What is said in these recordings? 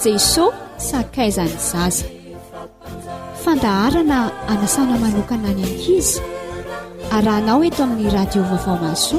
jeso sakaizany zaza fandaharana anasana manokana any ankizy arahanao eto amin'ny radio vaovao maso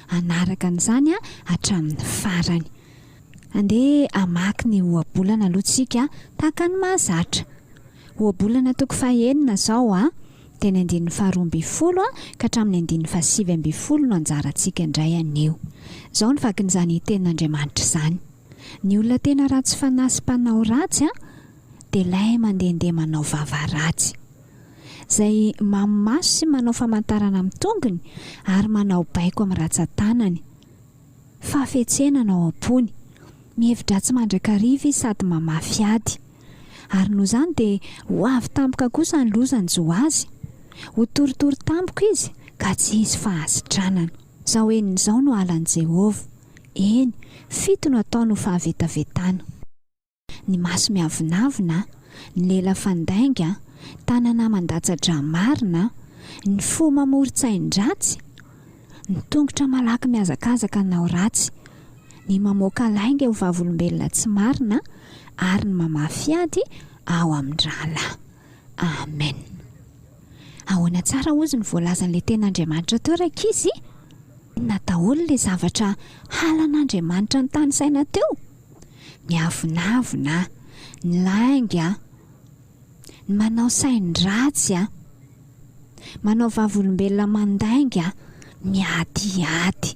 hanaraka an'izany hatramin'ny farany. Andeha hamaky ny ohabolana aloha tsika tahaka ny mahazatra. Ohabolana toko fahenina izao a! Dia ny andininy faharoa ambin'ny folo ka hatramin'ny andininy fahasivy ambin'ny folo no anjarantsika indray anio. Izao ny vakin'izany tenin'Andriamanitra izany, Ny olona tena ratsy fanahy sy mpanao ratsy dia ilay mandehandeha manao vava ratsy. izay mamo maso sy manao famantarana amin'ny tongony ary manao baiko amin'ny ratsan-tanany. Fahafetsena no ao am-pony. Mihevi-dratsy mandrakariva izy sady mamafy ady. Ary noho izany dia ho avy tampoka kosa ny loza nijo azy. Ho torotoro tampoka izy ka tsy hisy fahasitranana. Izao henony izao no halan'i Jehovah. Eny, fito no ataony ho fahavetavetana. ny maso miavonavona, ny lela fandainga, tanana mandatsa-dra marina, ny fo mamoron-tsain-dratsy, ny tongotra malaky mihazakazaka hanao ratsy, ny mamoaka lainga ho vavolombelona tsy marina, ary ny mamafy ady ao amin'ny rahalahy. Amen. Ahoana tsara hozy ny voalazan'ilay Tenin'Andriamanitra teo, rankizy? Inona daholo ilay zavatra halan'Andriamanitra notanisaina teo? Miavonavona an! Ny lainga an! Ny manao sain-dratsy an! Manao vavolombelona mandainga an! Miadiady!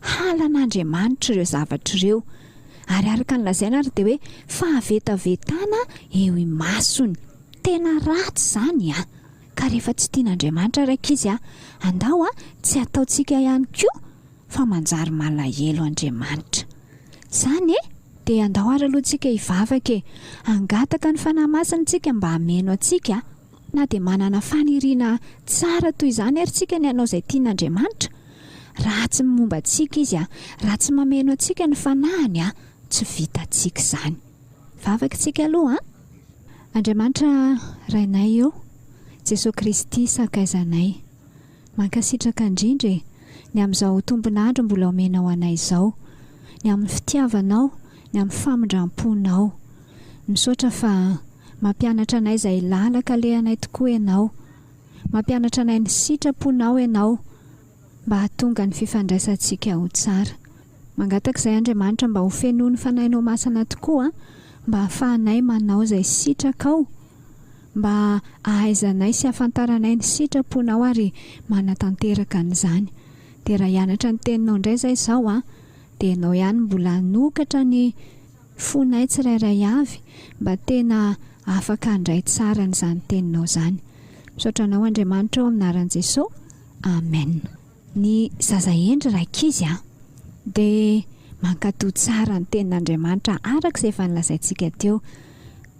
Halan'Andriamanitra ireo zavatra ireo, ary araka ny lazaina ary dia hoe fahavetavetana eo imasony. Tena ratsy izany an! Ka rehefa tsy tian'Andriamanitra ilay ankizy an, andao an, tsy ataontsika ihany koa fa manjary malahelo Andriamanitra. Izany e! Dia andao ary aloha tsika hivavaka e! Hangataka ny Fanahy Masina tsika mba hameno antsika. Na dia manana faniriana tsara toy izany ary tsika ny hanao izay tian' Andriamanitra, raha tsy momba antsika Izy a, raha tsy mameno antsika ny Fanahiny a, tsy vitantsika izany. Vavaka isika aloha an! Andriamanitra Rainay ô, Jesoa Kristy Sakaizanay. Mankasitraka indrindra e! Ny amin'izao tombon'andro mbola omenao anay izao. Ny amin'ny fitiavanao, ny amin'ny famindram-ponao. Misaotra fa mampianatra anay izay làlaka alehanay tokoa ianao. Mampianatra anay ny sitraponao ianao mba hahatonga ny fifandraisantsika ho tsara. Mangataka izay Andriamanitra mba ho fenoin'ny Fanahinao Masina tokoa mba hahafahanay manao izay sitrakao. mba ahaizanay sy ahafantaranay ny sitraponao ary manatanteraka an'izany. Dia raha hianatra ny teninao indray izay izao an, dia ianao ihany mbola hanokatra ny fonay tsirairay avy mba tena afaka handray tsara an'izany teninao izany. Misaotra anao Andriamanitra ao amin'ny anaran'i Jesosy. Amen. Ny zaza hendry rankizy an, dia mankatò tsara ny tenin'Andriamanitra araka izay efa nolazaintsika teo.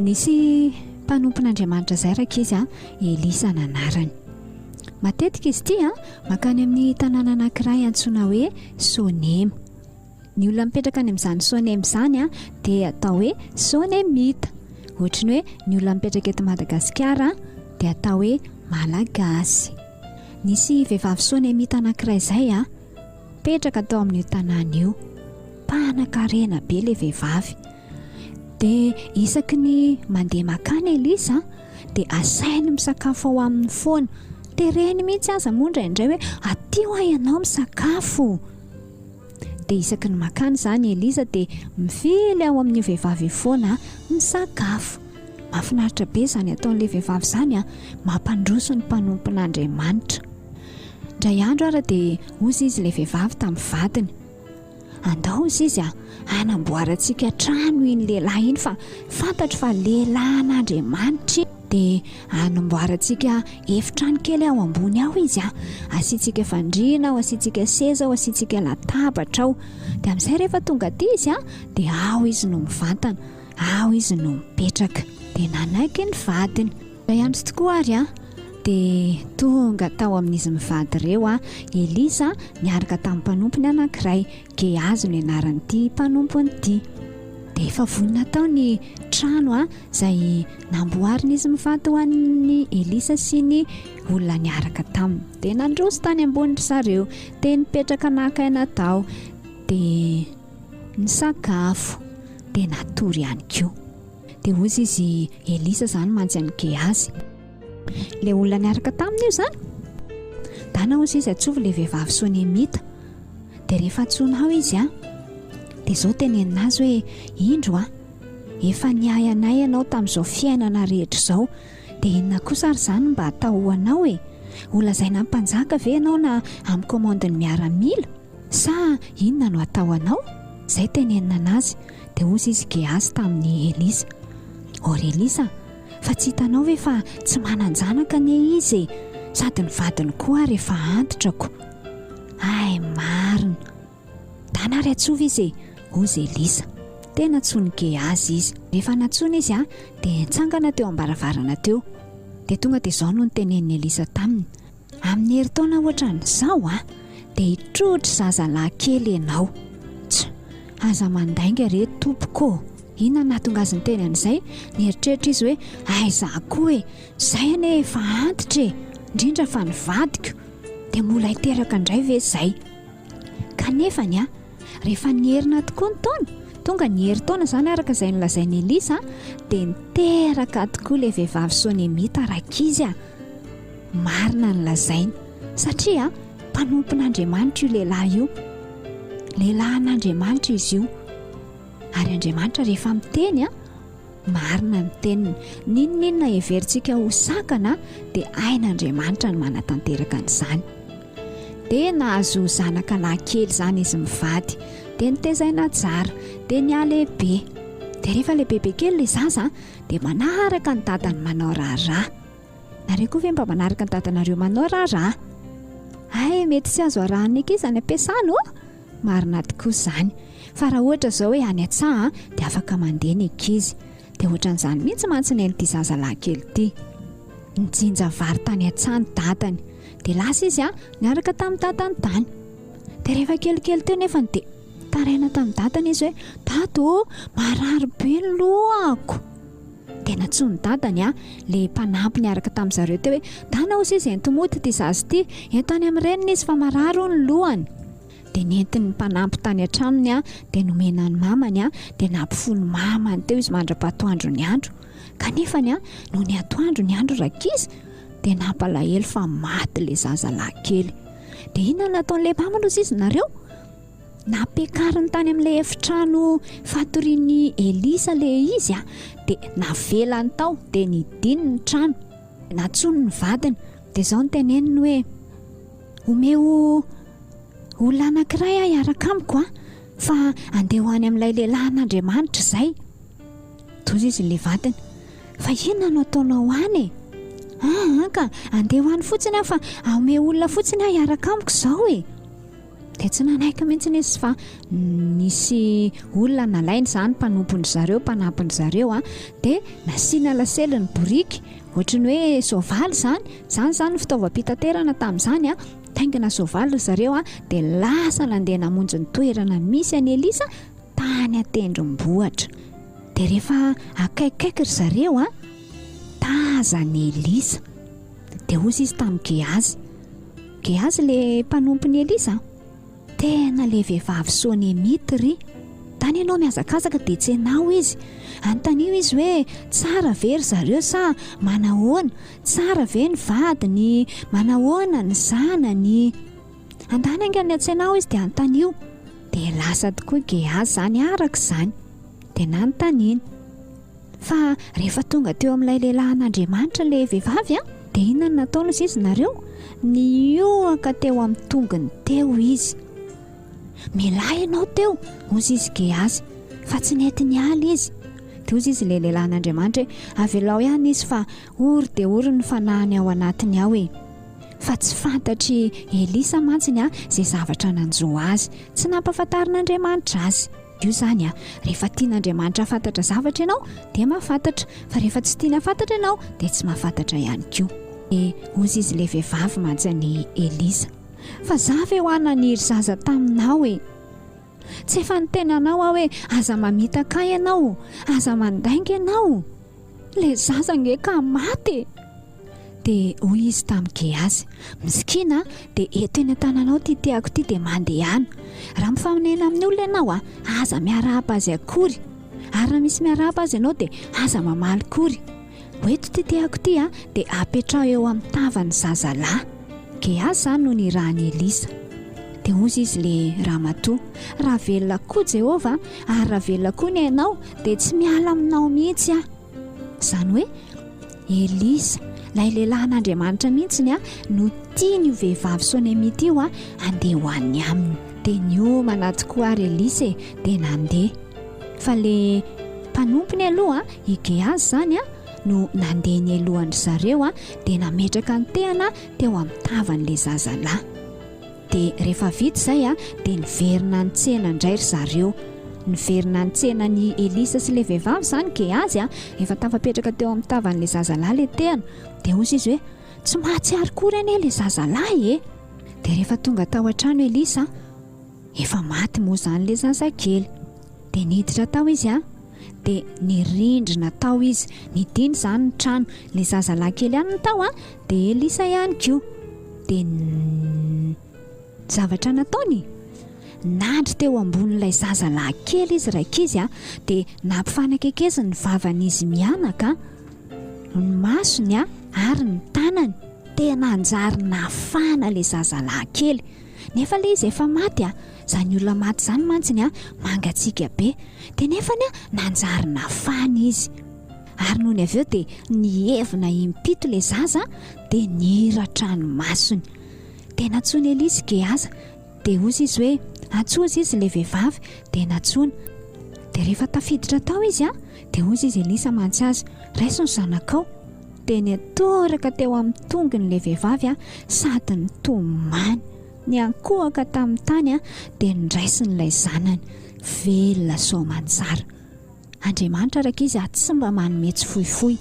Nisy mpanompon'Andriamanitra izay rankizy an, Elisa nanarany. Matetika izy ity an, makany amin'ny tanàna anankiray antsoina hoe Sonema. Ny olona mipetraka any amin'izany Sonem izany dia atao hoe Sonemita. Ohatry ny hoe ny olona mipetraka eto Madagasikara dia atao hoe Malagasy. Nisy vehivavy Sonemita anankiray izay a, mipetraka tao amin'io tanàna io. Mpanan-karena be ilay vehivavy. Dia isaky ny mandeha makany Elisa dia asainy misakafo ao aminy foana. Tereny mihitsy aza moa indraindray hoe aty ho'a ianao misakafo. Dia isaky ny makany izany i Eliza dia mivily ao amin'io vehivavy io foana misakafo. Mahafinaritra be izany ataon'ilay vehivavy izany an! Mampandroso ny mpanompon'Andriamanitra. Indray andro ary dia hozy izy ilay vehivavy tamin'ny vadiny. Andao hozy izy an! Hanamboarantsika trano iny lehilahy iny fa fantatro fa lehilahin'Andriamanitra iny. dia anomboarantsika efitrano kely ao ambony ao izy a asiantsika fandriana ao asiantsika seza ao asiantsika latabatra ao dia amin'izay rehefa tonga aty izy a dia ao izy no mivantana ao izy no mipetraka dia nanaiky ny vadiny zay ihany tsy tokoa ary a dia tonga tao amin'izy mivady ireo a elisa niaraka tamin'ny mpanompony anankiray gehazo ny anaran'ity mpanompony ity dia efa vonona tao ny trano a izay namboarina izy mivady ho an'i Elisa sy ny olona niaraka taminy. Dia nandroso tany ambony ry zareo, dia nipetraka naka aina tao, dia nisakafo, dia natory ihany koa. Dia hozy izy Elisa izany mantsy an'i Gehazy. Ilay olona niaraka taminy io izany? Dana hozy izy atsovy ilay vehivavy Sonemita. Dia rehefa antsoina ao izy an, dia izao tenenina azy hoe indro an, Efa niahy anay ianao tamin'izao fiainana rehetra izao, dia inona kosa ary izany mba hatao ho anao e? Ho lazaina mpanjaka ve ianao na amin'ny komandin'ny miaramila? Sa inona no hatao anao? Izay tenenina anazy. Dia hozy izy Gehazy tamin'i Elisa, O ry Elisa, fa tsy hitanao ve fa tsy manan-janaka anie izy e, sady ny vadiny koa ary efa antitra ko. Hay marina! Dana ary atsova izy e! hozy Elisa. Tena tsy nike azy izy. Rehefa nantsoina izy dia nitsangana teo am-baravarana teo. Dia tonga dia izao no nitenenin'i Elisa taminy, Amin'ny herintaona hoatran'izao a! dia hitrohotry zazalahy kely ianao. Tsy! Aza mandainga re tompoko ô! Inona no nahatonga azy niteny an'izay? Nieritreritra izy hoe, Aiza koa e! Izay anie efa antitra e! Indrindra fa ny vadiko. Dia mbola hiteraka indray ve izay? Kanefa ny rehefa nierina tokoa ny taona, tonga ny herintaona izany araka izay nolazain'i Elisa, dia niteraka tokoa ilay vehivavy Sonemita rankizy. Marina ny lazainy satria mpanompon'Andriamanitra io lehilahy io, lehilahin'Andriamanitra izy io, ary Andriamanitra rehefa miteny. Marina ny teniny, n'inon'inona heverintsika ho sakana dia hain'Andriamanitra ny manatanteraka an'izany. Dia nahazo zanaka lahy kely izany izy mivady, dia notezaina tsara, dia nihalehibe. Dia rehefa lehibebe kely ilay zaza dia manaraka ny dadany manao raharaha. Nareo koa ve mba manaraka ny dadanareo manao raharaha? Hay mety tsy azo arahan'ny ankizy any am-piasana ô! Marina tokoa izany. Fa raha ohatra izao hoe any an-tsaha dia afaka mandeha ny ankizy. Dia ohatran'izany mihitsy mantsy ny an'ity zazalahy kely ity. Nijinja vary tany an-tsaha ny dadany. Dia lasa izy niaraka tamin'ny dadany tany. Dia rehefa kelikely teo nefany dia taraina tamin'ny dadany izy hoe, Dada ô, marary be ny lohako. Dia nantsoiny ny dadany an, ilay mpanampy niaraka tamin'ny zareo teo hoe, Dana hozy izy enti-mody ity zaza ity, ento any amin'ny reniny izy fa marary hono ny lohany. Dia nentiny ny mpanampy tany an-tranony an, dia nomena an'i mamany an, dia nampifono mamany teo izy mandra-pahatoandro ny andro. Kanefa ny an, nony atoandro ny andro rankizy, dia nampalahelo fa maty ilay zaza lahy kely. Dia inona no nataon'ilay mamany hozy izy nareo? Nampiakariny tany amin'ilay efitrano fatorian'i Elisa ilay izy, dia navelany tao, dia nidiny ny trano. Nantsoiny ny vadiny, dia izao no teneniny hoe, Omeo olona anankiray aho hiaraka amiko an, fa handeha ho any amin'ilay lehilahin'Andriamanitra izay. Tojo izy ilay vadiny, fa inona no ataonao any e? An, ka handeha ho any fotsiny aho, fa omeo olona fotsiny aho hiaraka amiko izao e. dia tsy nanaiky mihitsy izy fa nisy olona nalainy izany mpanompony zareo mpanampiny zareo a ah. dia nasiana lasely ny boriky ohatry ny hoe soavaly izany izany izany fitaovam-pitaterana tamin'izany a ah. taingina soavaly zareo a ah. dia lasa nandeha namonjy ny toerana misy any elisa tany atendrombohitra dia rehefa akaikikaiky ry zareo a taza ny elisa Dia hozy izy tamin'i Gehazy, Gehazy le mpanompon'i Elisa, Tena le vehivavy Sonemita ry. Tany ianao mihazakazaka dia tsy anao izy. Anontanio izy hoe tsara ve ry zareo sa manahoana, tsara ve ny vadiny, manahoana ny zanany. Andany anga ny an-tsainao izy dia anontanio. Dia lasa tokoa Gehazy izany araka izany. Dia nanontaniany. Fa rehefa tonga teo amin'ilay lehilahin'Andriamanitra ilay vehivavy, dia inona no nataony hoy izy nareo? Nihoaka teo amin'ny tongony teo izy. Milay ianao teo, hoy izy Gehazy, fa tsy nety niala izy. Dia hoy izy ilay lehilahin'Andriamanitra hoe, Avelao ihany izy fa ory dia ory ny fanahiny ao anatiny ao e. Fa tsy fantatr'i Elisa mantsy ny izay zavatra nanjo azy. Tsy nampahafantarin'Andriamanitra azy. Io izany a, rehefa tian'Andriamanitra hafantatra zavatra ianao dia mahafantatra, fa rehefa tsy tiany hafantatra ianao dia tsy mahafantatra ihany koa. Dia hozy izy ilay vehivavy mantsy an'i Elisa, fa za ve hoa naniry zaza taminao e? Tsy efa niteny anao aho hoe aza mamitaka ahy ianao, aza mandainga ianao? le zaza nge ka maty e dia hoy izy tamin'i Gehazy misikina dia eto eny an-tananao ity tehako ity dia mandehana raha mifaminena amin'ny olona ianao a aza miarahaba azy akory ary raha misy miarahaba azy ianao dia aza mamaly kory ho eto ity tehako ity a dia apetraho eo amin'ny tavan'ny zazalahy Gehaza no nirahan'i Elisa. Dia hozy izy ilay ramatoa, Raha velona koa Jehovah, ary raha velona koa ny ainao, dia tsy miala aminao mihitsy aho. Izany hoe Elisa, ilay lehilahin'Andriamanitra mihitsy ny ahy, no tiany io vehivavy Sonemita io handeha ho any aminy. Dia niomana tokoa ary Elisa e, dia nandeha. Fa ilay mpanompony aloha, i Gehaza izany, no nandeha nialohan-dry zareo dia nametraka ny tehana teo amin'ny tavan'ilay zazalahy. Dia rehefa vita izay dia niverina nitsena indray ry zareo. Niverina nitsena an'i Elisa sy ilay vehivavy izany Gehazy, efa tafapetraka teo amin'ny tavan'ilay zazalahy ilay tehana. Dia hoy izy hoe, Tsy mahatsiaro akory anie ilay zazalahy e! Dia rehefa tonga tao an-trano Elisa, Efa maty moa izany ilay zazakely. Dia niditra tao izy an! Dia nirindrina tao izy. Nidina izany ny trano. Ilay zazalahy kely ihany no tao an! Dia Elisa ihany koa. Dia ny zavatra nataony? Nandry teo ambonin'ilay zazalahy kely izy raikizy an! Dia nampifanakekeziny ny vavan'izy mianaka an! Ny masony an! Ary ny tanany. Dia nanjary nafana ilay zazalahy kely. Nefa le izy efa maty a! Zany olona maty zany mantsy ny a mangatsiaka be! De nefany a nanjary nafana izy! Ary nony avy eo de nihevona impito le zaza de niratra ny masony! De natsoiny Elisy Gehaza! De ozy izy hoe atso ozy izy le vehivavy de natsoina! De rehefa tafiditra tao izy a de ozy izy Elisa mantsy azy raiso ny zanakao! Dia nitoraka teo amin'ny tongony ilay vehivavy sady nitomany. Niankohoka tamin'ny tany dia niraisiny ilay zanany. Velona soa aman-tsara. Andriamanitra araka Izy tsy mba manome tsy fohifohy.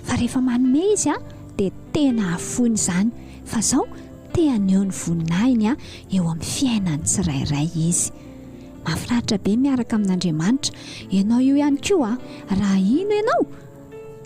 Fa rehefa manome Izy dia tena hahafoina izany. Fa izao te haneho ny voninahiny eo amin'ny fiainan'ny tsirairay Izy. Mahafinaritra be ny miaraka amin'Andriamanitra. Ianao io ihany koa, raha hino ianao,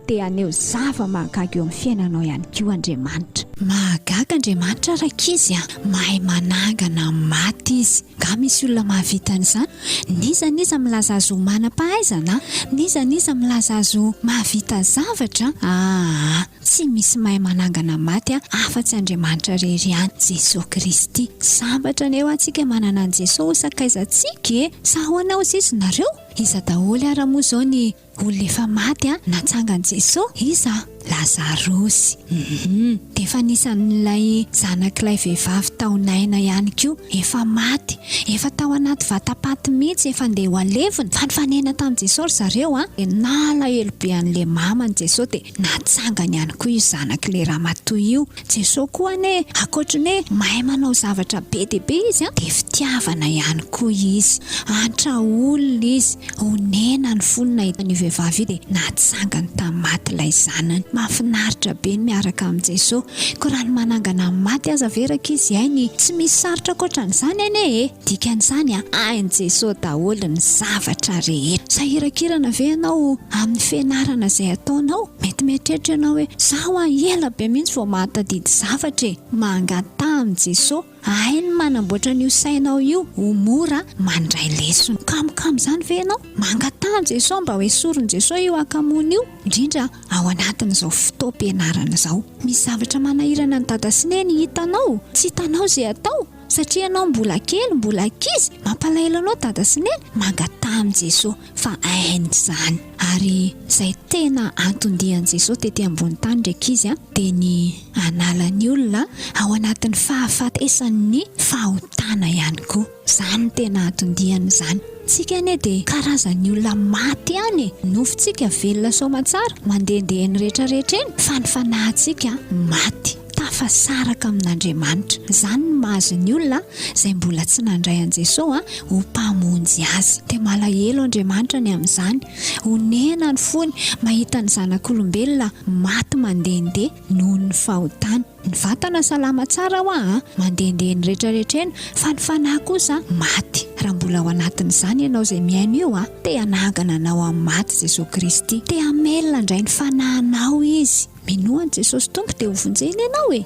dia haneho zava-mahagaga eo amin'ny fiainanao ihany koa Andriamanitra. Mahagaga Andriamanitra rankizy a! Mahay manangana ny maty Izy. Nga misy olona mahavita an'izany? N'iza n'iza milaza azy ho manam-pahaizana? N'iza n'iza milaza azy ho mahavita zavatra? Aa! Tsy misy mahay manangana maty a! afa-tsy Andriamanitra rery ihany, Jesoa Kristy. Sambatra anie hoa tsika manana an'i Jesoa ho sakaizantsika e! Sa ahoana hozy izy nareo? Iza daholo ara moa izao ny. Olona efa maty a! Natsangan'i Jeso? Iza? Lazarosy! Hum! Dia efa anisan'ilay zanak'ilay vehivavy tao Naina ihany koa. Efa maty. Efa tao anaty vatapaty mihitsy, efa ndeha ho alevina. Fa nifanena tamin'i Jeso ry zareo a! Dia nalahelo be an'ilay maman'i Jeso dia natsangany ihany koa io zanak'ilay ramatoa io. Jesoa koa anie ankoatry ny hoe mahay manao zavatra be dia be Izy an, dia fitiavana ihany koa Izy. Antra olona Izy, onena ny fony nahita an'io vehivavy io dia natsangany tamin'ny maty ilay zanany. Mahafinaritra be ny miaraka amin'i Jesoa. Koa raha ny manangana amin'ny maty aza ve rankizy hainy? Tsy misy sarotra ankoatran'izany anie e! Dikan'izany an, hain'i Jesoa daholo ny zavatra rehetra. Sahiran-kirana ve ianao amin'ny fianarana izay ataonao? Mety mieritreritra ianao hoe, izaho hoa ela be mihitsy vao mahatadidy zavatra e! Mangataha amin'i Jesoa, hainy manamboatra an'io sainao io ho mora mandray lesona. Kamokamo izany ve ianao? Mangataha an'i Jesoa mba ho esorin'i Jesoa io hakamoana io, indrindra ao anatin'izao fotoam-pianarana izao. Misy zavatra manahirana an'i Dada sy Neny hitanao, tsy hitanao izay atao, satria ianao mbola kely, mbola ankizy, mampalahelo anao Dada sy Neny? Mangataha amin'i Jesoa. fa hainy izany. Ary izay tena anton-dian'i Jesosy tety ambony tany ry ankizy a, dia ny hanala ny olona ao anatin'ny fahafatesan'ny fahotana ihany koa. Izany no tena anton-diany izany. Tsika anie dia karazan'ny olona maty ihany e! Nofontsika velona soamantsara, mandehandeha eny rehetra rehetra eny, fa ny fanahintsika maty. tafasaraka amin'Andriamanitra. Izany no mahazo ny olona izay mbola tsy nandray an'i Jesoa ho Mpamonjy azy. Dia malahelo Andriamanitra ny amin'izany. Onena ny fony mahita ny zanak'olombelona maty mandehandeha noho ny fahotany. Ny vatana salama tsara ho'a a, mandehandeha ny retraretra eny, fa ny fanahy kosa maty. Raha mbola ao anatin'izany ianao izay mihaino io a, te hanangana anao amin'ny maty Jesoa Kristy. Te hamelona indray ny fanahinao Izy. Minoa an'i Jesosy Tompo dia hovonjeny ianao e!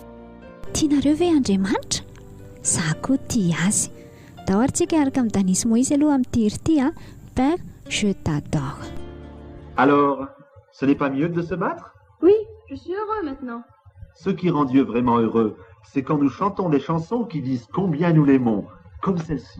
Tianareo ve Andriamanitra? Za koa tia Azy. Dao ary tsika hiaraka amin'i Dany sy Moizy aloha amin'ity hira ity a! Père, je t'adore. Alors, ce n'est pas mieux de se battre? Oui, je suis heureux maintenant. Ce qui rend Dieu vraiment heureux, c'est quand nous chantons des chansons qui disent combien nous l'aimons, comme celle-ci.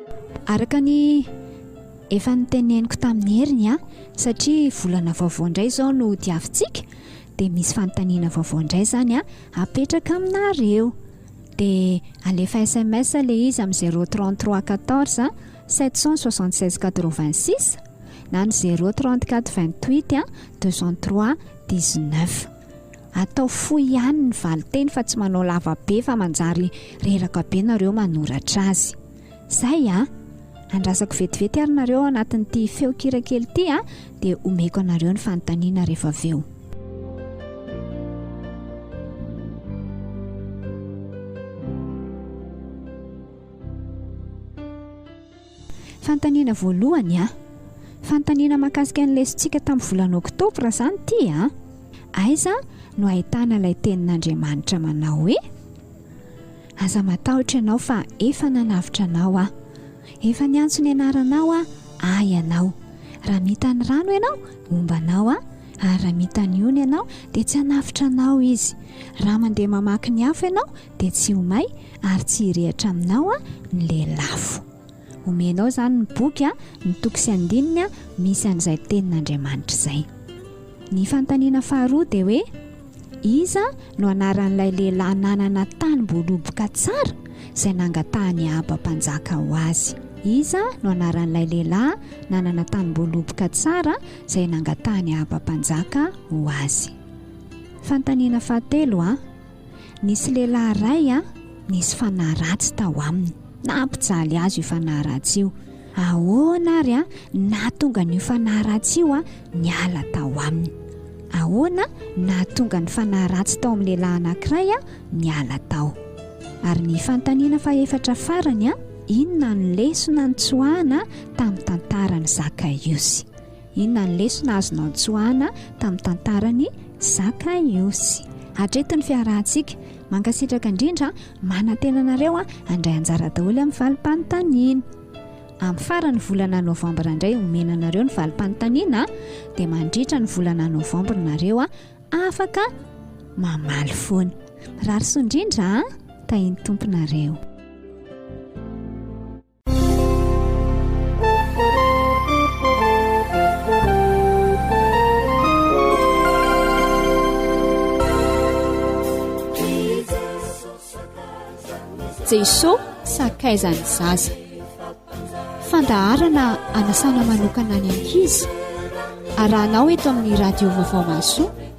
Araka ny efa niteneniko tamin'ny heriny a, satria volana vaovao indray izao no diavintsika, dia misy fanontaniana vaovao indray izany a, apetraka aminareo. Dia alefa sms ilay izy amin'ny zéro trente trois quatorze sept cent soixante seize quatre vingt six na ny zéro trente quatre vingt huit deux cent trois dix neuf. Atao fohy ihany ny valinteny fa tsy manao lava be fa manjary reraka be nareo manoratra azy. Zay a! Andrasako vetivety ary nareo ao anatin'ity feon-kira kely ity a, dia omeko anareo ny fanontaniana rehefa avy eo. Fanontaniana voalohany a! Fanontaniana mahakasika ny lesontsika tamin'ny volana oktobra izany ity a! Aiza no ahitana ilay tenin'Andriamanitra manao hoe, Aza matahotra ianao fa efa nanavotra anao aho. Efa niantso ny anaranao aho, ahy ianao. Raha mita ny rano ianao, homba anao aho, ary raha mita ny ony ianao, dia tsy hanavotra anao izy. Raha mandeha mamaky ny afo ianao, dia tsy ho may ary tsy hirehatra aminao ny lelafo. Omenao izany ny boky, ny toko sy andininy misy an'izay tenin'Andriamanitra izay. Ny fanontaniana faharoa dia hoe, Iza no anaran'ilay lehilahy nanana tany mboaloboka tsara izay nangatahan'i Ahaba mpanjaka ho azy? Iza no anaran'ilay lehilahy nanana tany mboaloboka tsara izay nangatahan'i Ahaba mpanjaka ho azy? Fanontaniana fahatelo a. Nisy lehilahy iray a, nisy fanahy ratsy tao aminy. Nampijaly azy io fanahy ratsy io. Ahoana ary a, nahatonga an'io fanahy ratsy io a, niala tao aminy. Ahoana nahatonga ny fanahy ratsy tao amin'ny lehilahy anankiray a, niala tao. Ary ny fanontaniana fahefatra farany a, inona no lesona nitsoahana tamin'ny tantaran'i Zakaiosy? Inona ny lesona azonao tsoahana tamin'ny tantaran'i Zakaiosy? Hatreto ny fiarahantsika. Mankasitraka indrindra. Manantena anareo handray anjara daholo amin'ny valim-panontaniana. Amin'ny faran'ny volana novambra indray omena anareo ny valim-panontaniana dia mandritra ny volana novambra nareo afaka mamaly foana. Rarisoa indrindra, tahin'ny Tompo nareo. jeso sakaizany zaza fandaharana anasana manokana any ankizy arahanao eto amin'ny radio vaovao maso